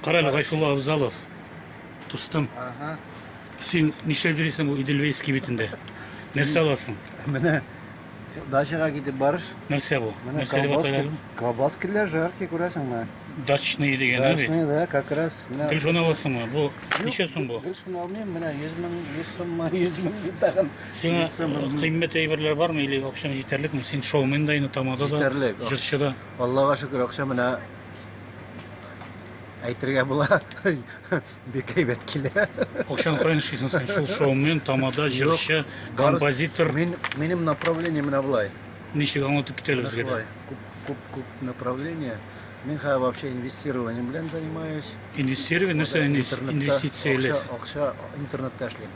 Карале Гайфулла Абзалов. Тустым. Ага. Син нишләп йөрисең бу Иделвейский битендә? Нәрсә аласың? Менә дачага китеп барыш. Нәрсә бу? Менә колбаски, колбаски жарки күрәсеңме? Дачный дигән бит. Дачный, да, как раз. Менә Гел шуны аласыңмы? Бу ничә сум бу? Гел шуны алмыйм, менә 100 мең, 100 суммы, 100 мең дип тагын Сиңа кыйммәт әйберләр бармы или акчаң җитәрлекме? Син шоумен да инде, тамада да, Җитәрлек. җырчы да. Аллага шөкер, акча менә әйтергә була. Бик әйбәт килә. Акчаны каян эшлисең син? Шул шоумен, тамада, җырчы, композитор. Мин, минем направление менә болай. Ничек аңлатып кит әле Менә безгә дә. шулай. Күп, күп, күп направление. Мин хәзер вообще инвестированием белән занимаюсь. Инвестирование, нәрсә инвес- Интернетта инвестиция акча, иләс? акча интернетта эшлим.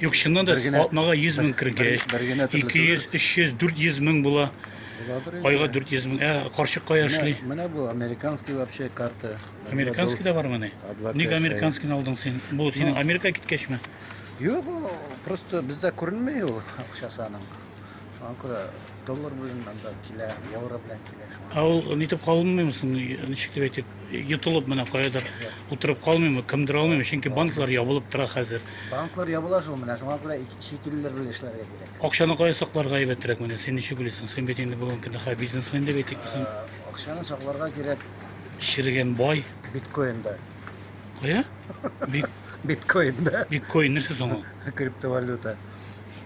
Юк, чыннан да атнага 100 мең кергәч, 200, 300, 400 мең була. Айга 400 мең. Ә карчык кая эшли? Менә бу американский вообще карта. Американский да бармы ни? Ник американскийны алдың син? Бу синең Америка киткәчме? Юк, просто бездә күренми ул акчасы аның. Шуңа күрә доллар белән монда килә, евро белән килә шуңа. Ә ул нитеп калмыймы соң, ничек дип әйтик, йотылып менә каядыр утырып калмыймы, кемдер алмыймы, чөнки банклар ябылып тора хәзер. Банклар ябыла шул менә, шуңа күрә ик- чит илләр белән эшләргә кирәк. Акчаны кая сакларга әйбәтрәк менә, син ничек уйлыйсың? Син бит инде бүген көнне хәзер бизнесмен дип әйтик без. Ә, Акчаны сакларга кирәк Черегән бай. биткоинда. Кая? Бит, Биткоинда, биткоин нәрсә соң ул? криптовалюта.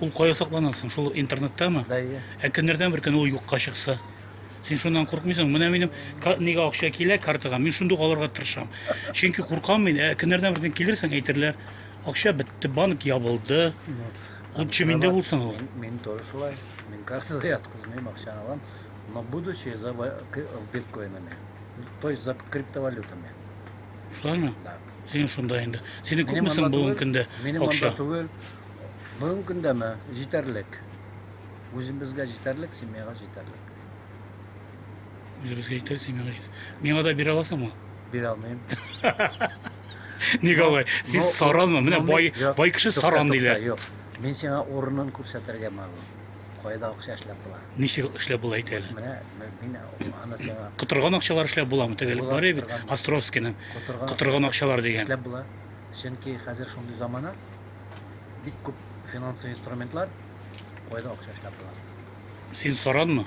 Ул кая саклана соң? Шул интернеттамы? Бәйе. Ә көннәрдән бер көн ул юкка чыкса? Син шуннан куркмыйсың? Менә минем нигә акча килә картага, мин шундук алырга тырышам. Чөнки куркам мин, ә көннәрдән бер көн килерсең, әйтерләр, акча бетте, банк ябылды. Лучше миндә булсын ул. Мин тоже шулай. Мин картага яткызмыйм, акчаны алам. Но будучи за биткоинами. То есть за криптовалютами. Шулаймы? Да. Син шунда инде. Сине күпмесен бүгенге көндә акча? Минем монда түгел. Бүгенге көндә ме? Җитәрлек. Үзебезгә җитәрлек, семьяга җитәрлек. Үзебезгә җитәр, семьяга җитәр. Миңа да бирә аласыңмы? Бирә алмыйм. Ник алай? Син Но- саранмы? Менә но бай, мин- Юк, бай кеше тукта, саран тукта, диләр. Юк. Мин сиңа урынын күрсәтергә мәгълүм. Кайда акча эшләп була? Ничек эшләп була әйт әле? Менә м- мин аны сиңа Котырган акчалар эшләп буламы? Тегелек Була, бар бит, котырган. Островскийның. котырган, Котырган акчалар дигән. Эшләп була. Чөнки хәзер шундый замана, бик күп финансовый инструментлар кайда акча эшләп була. Син саранмы?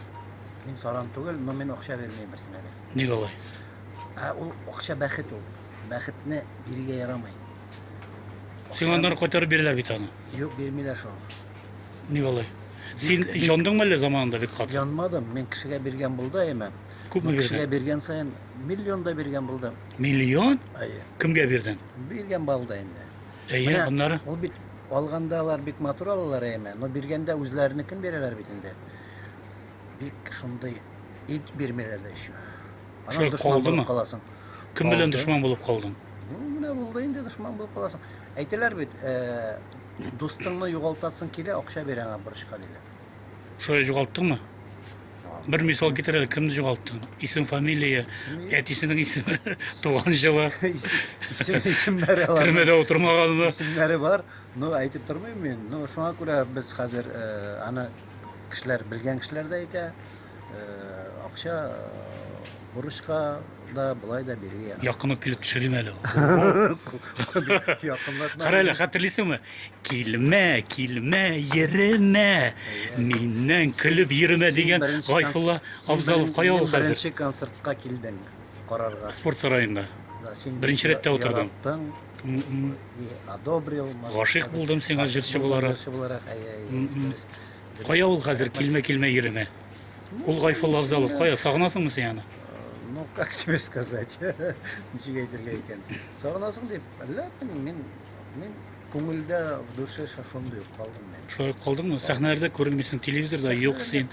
Мин саран түгел, но мин акча бирмим берсенә дә. Ник алай? Ә ул акча бәхет ул. Бәхетне бирергә ярамый. Сиңа аннары кайтарып бирәләр бит аны. Юк, бирмиләр шул. Ник алай? Син яндыңмы әллә заманында бик каты? Янмадым, мин кешегә биргән булды әйме. Күпме бирдең? Кешегә биргән саен миллион да биргән булдым. Миллион? Әйе. Кемгә бирдең? Биргән балда инде. Әйе, Менә аннары? Ул бит алганда алар бик матур алалар әйме, но биргәндә үзләренекен бирәләр бит инде. Бик шундый ит бирмиләр дә еще. Анан дошман булып каласың. Кем белән дошман булып калдың? Ну, менә булды инде дошман булып каласың. Әйтәләр бит, э, дустыңны югалтасың килә, акча бир аңа бурычка диләр. Шулай җугалттыңмы? Бер мисал китер әле, кемне җугалттың? Исем, фамилия, әтисенең исеме, туган җылы. Исем, исемнәре алар. Төрмәдә утырмаганмы? Исемнәре бар. Ну, әйтеп тормыйм мин. Ну, шуңа күрә без хәзер э, аны кешеләр, белгән кешеләр дә әйтә. Акча бурычка да былай да биргән. яра. Якын ук килеп төшерим әле. Якынлатма. Кара әле, хәтерлисеңме? Килмә, килмә, йөремә. Миннән көлеп йөремә дигән Гайфулла Абзалов кая ул хәзер? Беренче концертка килдең карарга. Спорт сараенда. Беренче рәттә утырдым. Одобрил. Гашыйк булдым сиңа җырчы буларак. Кая ул хәзер килмә-килмә йөрәме? Ул Гайфулла Авзалов кая? Сагынасыңмы син аны? Ну, как тебе сказать? Ничек әйтергә икән? Сагынасың дип, әллә мин мин күңелдә в душе шашуымда юк калдым мин. Шулай калдыңмы? Сәхнәләрдә күренмисең, телевизорда юк син.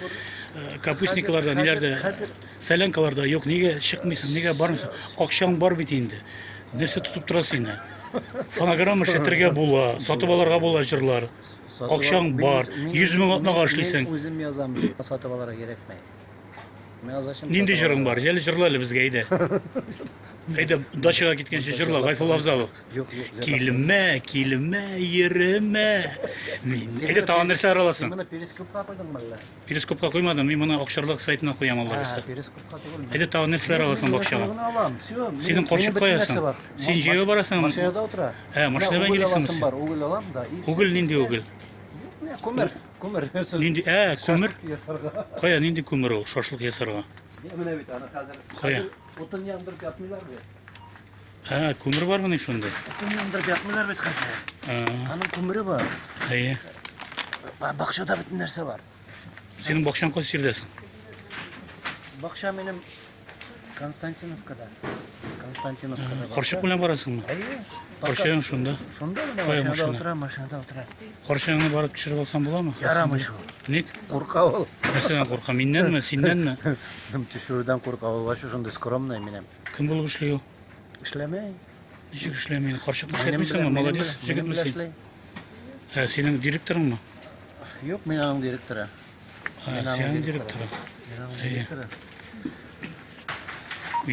Э, капустникларда, ниләрдә? Хәзер сәләнкаларда юк. Нигә чыкмыйсың? Нигә бармыйсың? Акчаң бар бит инде. Нәрсә тотып торасың инде? Фонограмма эшләтергә була, сатып алырга була җырлар. Акчаң бар, 100 мең атнага эшлисең. Мин үзем язам, ди. Сатып алырга кирәкми. Мин язачым. Нинди җырың бар? Җәле җырла әле безгә, әйдә. Әйдә, дачага киткәнче җырла, Гайфулла Авзалов. Килмә, килмә, йөремә. Мин. Әйдә, тагын нәрсә араласын? Син моны перископка куйдыңмы әллә? Перископка куймадым, мин моны акчарлык сайтына куям алла бирса. Перископка түгел. Әйдә тагын нәрсәләр аласың бакчага? Алам, все. Синең карчык каясың? Син җәяү барасың. Машинада утыра. Ә, машинада белән киләсең. Бар, угыл алам да. Угыл нинди угыл? Күмер, күмер. Нинди? Ә, күмер. Кая нинди күмер ул? Шашлык ясарга. Менә бит аны хәзер. Кая? Утын яндырып ятмыйлар бит. Ә, күмер бармы ни шунда? Күмер яндырып ятмыйлар бит хәзер. Аның күмере бар. Әйе. Бакчада бөтен нәрсә бар. Синең бакчаң кайсы җирдә соң? Бакча минем Константиновкада. Константиновкада. Карчык белән барасыңмы? Әйе. Карчыгың шунда. Шунда гына машинада утыра, машинада утыра. Карчыгыңны барып төшереп алсаң буламы? Ярамый шул. Ник? Курка ул. Нәрсәдән курка? Миннәнме, синнәнме? Төшерүдән курка ул. Ваще шундый скромный минем. Кем булып эшли ул? Эшләмәй. Ничек эшләми? Карчык эшләмисеңме? Молодец, җегет мисең. Ә синең директорыңмы? Юк, мин аның директоры. Ә синең директоры. Мин аның директоры.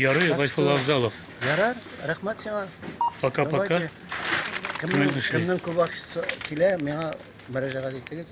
Ярый, Гайфул Авзалов. Ярар, рәхмәт сиңа. Пока-пока. Кемнең, кемнең күп акчасы килә, миңа мөрәҗәгать итегез.